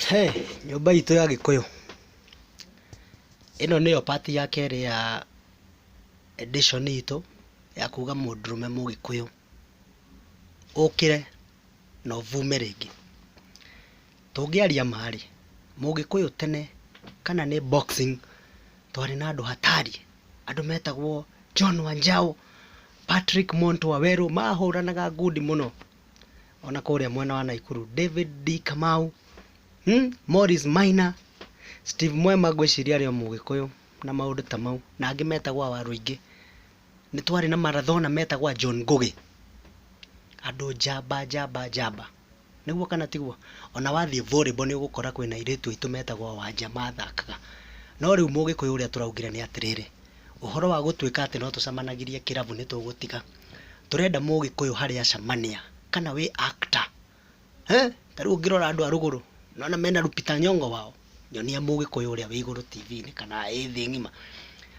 He nyũmba itũ ya gĩkũyũ, ĩno nĩyo part ya kerĩ ya edition itũ ya kuga mũndũrũme mũgĩkũyũ, ũkĩre na ũvume rĩngĩ. Tũngĩaria ma rĩ, mũgĩkũyũ tene kana nĩ boxing twarĩ na andũ hatari, andũ metagwo John Wanjaũ, Patrick Montu Wawerũ, mahũranaga ngundi mũno. ona kũrĩa mwena wa Naikuru David D Kamau hmm? Morris Maina Steve Mwema ngwĩciria arĩ o mũgĩkũyũ na maũndũ ta mau na angĩ metagwo awaru aingĩ nĩ twarĩ na marathona metagwo a John Ngũgĩ andũ njamba njamba njamba nĩguo kana tiguo ona wathiĩ volleyball nĩ ũgũkora kwĩna airĩtu aitũ metagwo wanja mathakaga no rĩu mũgĩkũyũ ũrĩa tũraugire nĩ atĩrĩrĩ ũhoro wa gũtuĩka atĩ no tũcemanagirie kĩrabu nĩ tũgũtiga Tũrenda mũgĩkũyũ harĩ Acamania, kana wĩ actor. He? Ta rĩu ũngĩrora andũ a rũgũrũ, nĩwona mena Lupita Nyong'o wao? Nyonia mũgĩkũyũ ũrĩa wĩ igũrũ TV-inĩ kana ĩ thĩ ng'ima.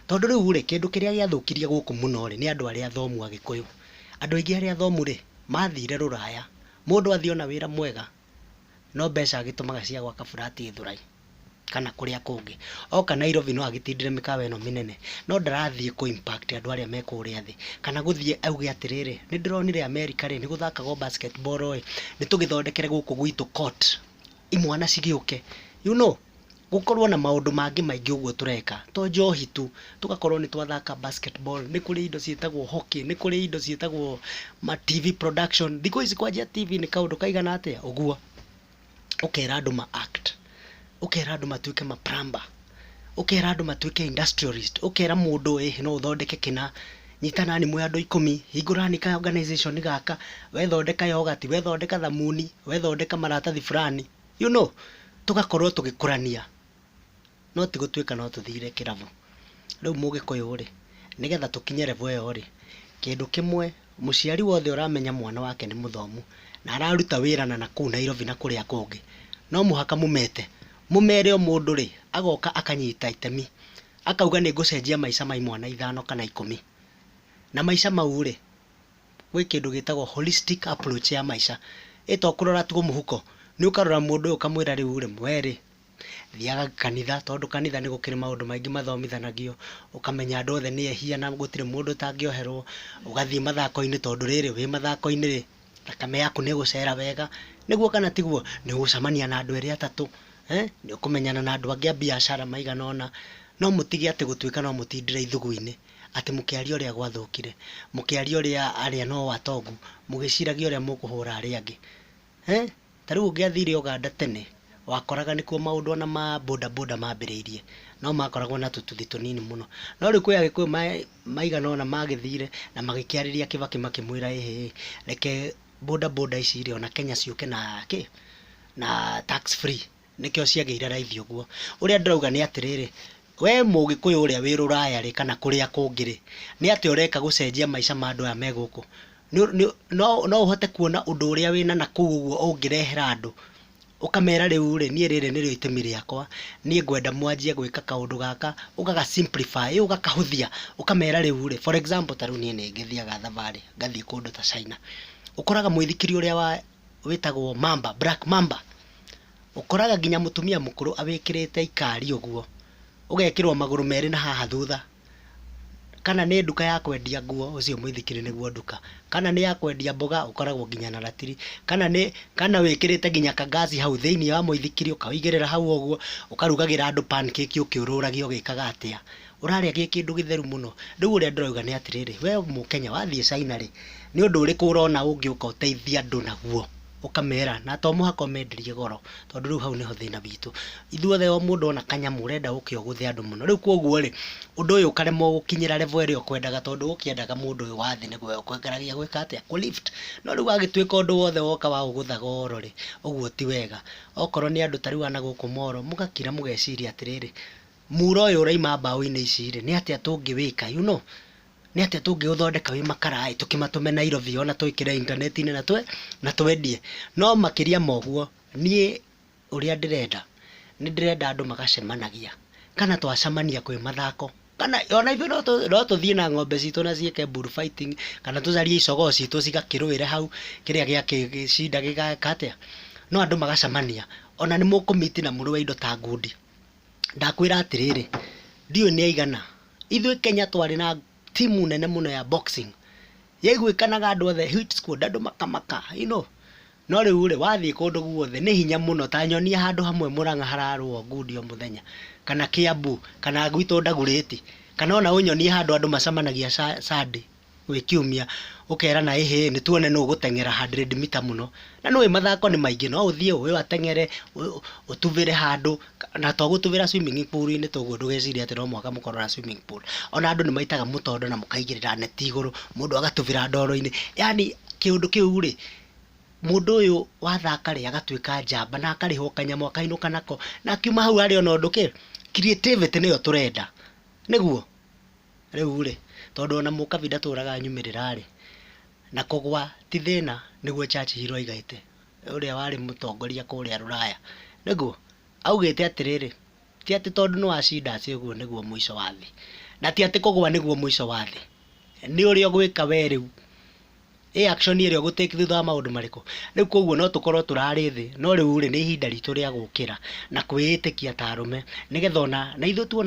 Tondũ rĩu rĩ, kĩndũ kĩrĩa gĩathũkirie gũkũ mũno rĩ, nĩ andũ arĩa athomu Agĩkũyũ. Andũ aingĩ arĩa athomu rĩ, mathire rũraya. Mũndũ athiĩ ona wĩra mwega, no mbeca agĩtũmaga cia gwaka flat Gĩthũrai kana kũrĩa kũngĩ. Oka Nairobi no agĩtindĩre mĩkawa ĩno mĩnene, no ndarathiĩ kũ impact andũ arĩa me kũrĩa thĩ, kana gũthiĩ auge atĩrĩrĩ, nĩ ndĩronire America rĩ, nĩ gũthakagwo basketball ĩ, nĩ tũgĩthondekere gũkũ gwitũ court imwana cigĩũke. You know? gũkorwo na maũndũ mangĩ maingĩ ũguo tũreka to njohi tu, tũgakorwo nĩ twathaka basket ball, nĩ kũrĩ indo ciĩtagwo hockey, nĩ kũrĩ indo ciĩtagwo ma TV production, thikũ ici kwanjia TV nĩ kaũndũ kaigana atĩa ũguo, ũkera andũ ma act, ũkera andũ matuĩke ma plumber, ũkera andũ matuĩke industrialist, ũkera mũndũ ĩ no ũthondeke kĩna, nyitanani mwĩ andũ ikũmi, hingũrani ka organization gaka, wethondeka yogati, wethondeka thamuni, wethondeka maratathi burani. you know, tũgakorwo tũgĩkũrania, no ti gũtuĩka no tũthire kĩrabu. Rĩu Mũgĩkũyũ-rĩ, nĩgetha tũkinye level ĩyo-rĩ, kĩndũ kĩmwe, mũciari wothe ũramenya mwana wake nĩ mũthomu, na araruta wĩra na nakũu Nairobi na kũrĩa kũngĩ, no mũhaka mũmete, mũmere o mũndũ-rĩ, agoka akanyita itemi, akauga nĩngũcenjia maica ma imwana ithano kana ikũmi, na maica mau-rĩ, gwĩ kĩndũ gĩtagwo holistic approach ya maica. Ĩ to kũrora tu mũhuko. Nĩ ũkarora mũndũ ũyũ ũkamwĩra rĩu rĩ, we rĩ, thiaga kanitha, tondũ kanitha nĩ gũkĩrĩ maũndũ maingĩ mathomithanagio, ũkamenya andũ othe nĩ ehia na gũtirĩ mũndũ ũtangĩoherwo, ũgathiĩ mathako-inĩ tondũ rĩrĩ, wĩ mathako-inĩ rĩ, thakame yaku nĩ ĩgũcera wega. Nĩguo kana tiguo? Nĩ ũgũcemania na andũ erĩ atatũ, nĩ ũkũmenyana na andũ angĩ a biacara maigana ũna. No mũtige atĩ gũtuĩka no mũtindĩre ithugu-inĩ. Atĩ mũkĩaria ũrĩa gwathũkire, mũkĩaria ũrĩa arĩa no o atongu, mũgĩciragia ũrĩa mũkũhũra arĩa angĩ. He? Ta rĩu ũngĩathire Ũganda tene, wakoraga nĩkuo maũndũ ona ma boda boda mambĩrĩirie, no makoragwo na tũtuthi tũnini mũno. No rĩu kwĩ Agĩkũyũ maigana ũna magĩthire na magĩkĩarĩria Kĩbakĩ makĩmwĩra ĩhĩ, reke boda boda ici rĩ, ona Kenya ciũke na kĩ, na tax free. nĩkĩo ciagĩire raithi ũguo. Ũrĩa ndĩrauga nĩ atĩrĩrĩ, wee mũgĩkũyũ ũrĩa wĩ rũraya rĩ kana kũrĩa kũngĩ rĩ, nĩ atĩa ũreka gũcenjia maica ma andũ aya me gũkũ? No ũhote kuona ũndũ ũrĩa wĩna nakũu ũguo ũngĩrehera andũ, ũkamera rĩu rĩ, niĩ rĩrĩ nĩrĩo itemi rĩakwa, niĩ ngwenda mwanjie gwĩka kaũndũ gaka, ũga ga simplify, ũga kahũthia, ũkamera rĩu rĩ, for example ta rĩu niĩ nĩ ngĩthiaga thabarĩ ngathiĩ kũndũ ta China, ũkoraga mũithikiri ũrĩa wĩtagwo mamba, black mamba. Ũkoraga nginya mũtumia mũkũrũ awĩkĩrĩte ikari ũguo, ũgekĩrwo magũrũ merĩ na haha thutha, kana nĩ nduka ya kwendia nguo, ũcio mũithikiri nĩguo nduka, kana nĩ ya kwendia mboga, ũkoragwo nginya na ratiri, kana nĩ, kana wĩkĩrĩte nginya ka ngaci hau thĩiniĩ wa mũithikiri, ũkawĩigĩrĩra hau ũguo, ũkarugagĩra andũ pancake ũkĩũrũragia ũgĩkaga atĩa. Ũrarĩa gĩ kĩndũ gĩtheru mũno. Rĩu ũrĩa ndĩrauga nĩ atĩrĩrĩ, wee Mũkenya wathiĩ China rĩ, nĩ ũndũ ũrĩkũ ũrona ũngĩũka ũteithie andũ naguo? ũkamera na to mũhaka ũmenderie goro tondũ rĩu hau nĩho thĩna witũ. Ithuothe o mũndũ ona kanyamũ ũrenda gũke ũgũthe andũ mũno. Rĩu kwoguo rĩ, ũndũ ũyũ ũkaremwo gũkinyĩra level ĩrĩa ũkwendaga tondũ ũkĩendaga mũndũ ũyũ wa thĩ nĩguo oke ũkĩgeragia gwĩka atĩa, kũ lift. No rĩu wagĩtuĩka ũndũ wothe woka wa gũgũtha goro rĩ, ũguo ti wega. Okorwo nĩ andũ ta rĩu a na gũkũ Molo, mũgakira mũgeciria atĩrĩrĩ, mura ũyũ ũrauma mbaũ-inĩ ici rĩ, nĩ atĩa tũngĩwĩka, you know. nĩ atĩa tũngĩũthondeka wĩ makara ĩ, tũkĩmatũme Nairobi o na twĩkĩre intaneti-inĩ na twendie. No makĩria ma ũguo, niĩ ũrĩa ndĩrenda, nĩ ndĩrenda andũ magacemanagia, kana twacemania kwĩ mathako, kana o na ithuĩ no tũthiĩ na ng'ombe citũ na ciĩke bull fighting, kana tũcarie icogoo citũ cigakĩrũĩre hau, kĩrĩa gĩagĩcinda gĩgeka atĩa, no andũ magacemania, o na nĩ mũkũ meet na mũrũe indo ta ngundi. Ndakwĩra atĩrĩrĩ, ndiũĩ nĩ aigana, ithuĩ Kenya twarĩ na timu nene mũno ya boxing, yaiguĩkanaga andũ othe, hit squad, andũ makamaka, you know, no rĩu rĩ, wathiĩ kũndũ guothe nĩ hinya mũno, ta nyonia handũ hamwe Mũrang'a hararũwo ngundi o mũthenya, kana Kĩambu, kana gwitũ Ndagurĩti, kana ona ũnyonie handũ andũ macemanagia Sunday. wĩ kiumia, ũkerana ĩ hĩĩ nĩ tuone nũ ũgũteng'era hundred meter mũno. Na nĩ ũĩ mathako nĩ maingĩ, no ũthiĩ ũyũ ateng'ere, ũyũ ũtubĩre handũ, na to gũtubĩra swimming pool -inĩ ta ũguo ndũgecirie atĩ no mũhaka mũkorwo na swimming pool. O na andũ nĩ maitaga mũtondo na mũkaigĩrĩra neti igũrũ, mũndũ agatubĩra ndoro-inĩ, yaani kĩũndũ kĩu rĩ, mũndũ ũyũ wathaka rĩ, agatuĩka njamba na akarĩhwo kanyamũ akainũka nako, na akiuma hau arĩ o na ũndũ kĩ, creativity nĩyo tũrenda. Nĩguo? Rĩu-rĩ, tondũ ona mũkabi ndatũraga anyumĩrĩra-rĩ, na kũgwa ti thĩna, nĩguo Churchill oigĩte, ũrĩa warĩ mũtongoria kũrĩa Rũraya, nĩguo, augĩte atĩrĩrĩ, ti atĩ tondũ nĩwacinda atĩ ũguo nĩguo mũico wa thĩ, na ti atĩ kũgwa nĩguo mũico wa thĩ, nĩ ũrĩa ũgwĩka we rĩu, ĩ action ĩrĩa ũgũ take thutha wa maũndũ marĩkũ. Rĩu kuoguo no tũkorwo tũrarĩ thĩ, no rĩu-rĩ, nĩ ihinda ritũ rĩa gũkĩra na kwĩĩtĩkia ta arũme, nĩgetha ona, na ithuĩ tuona.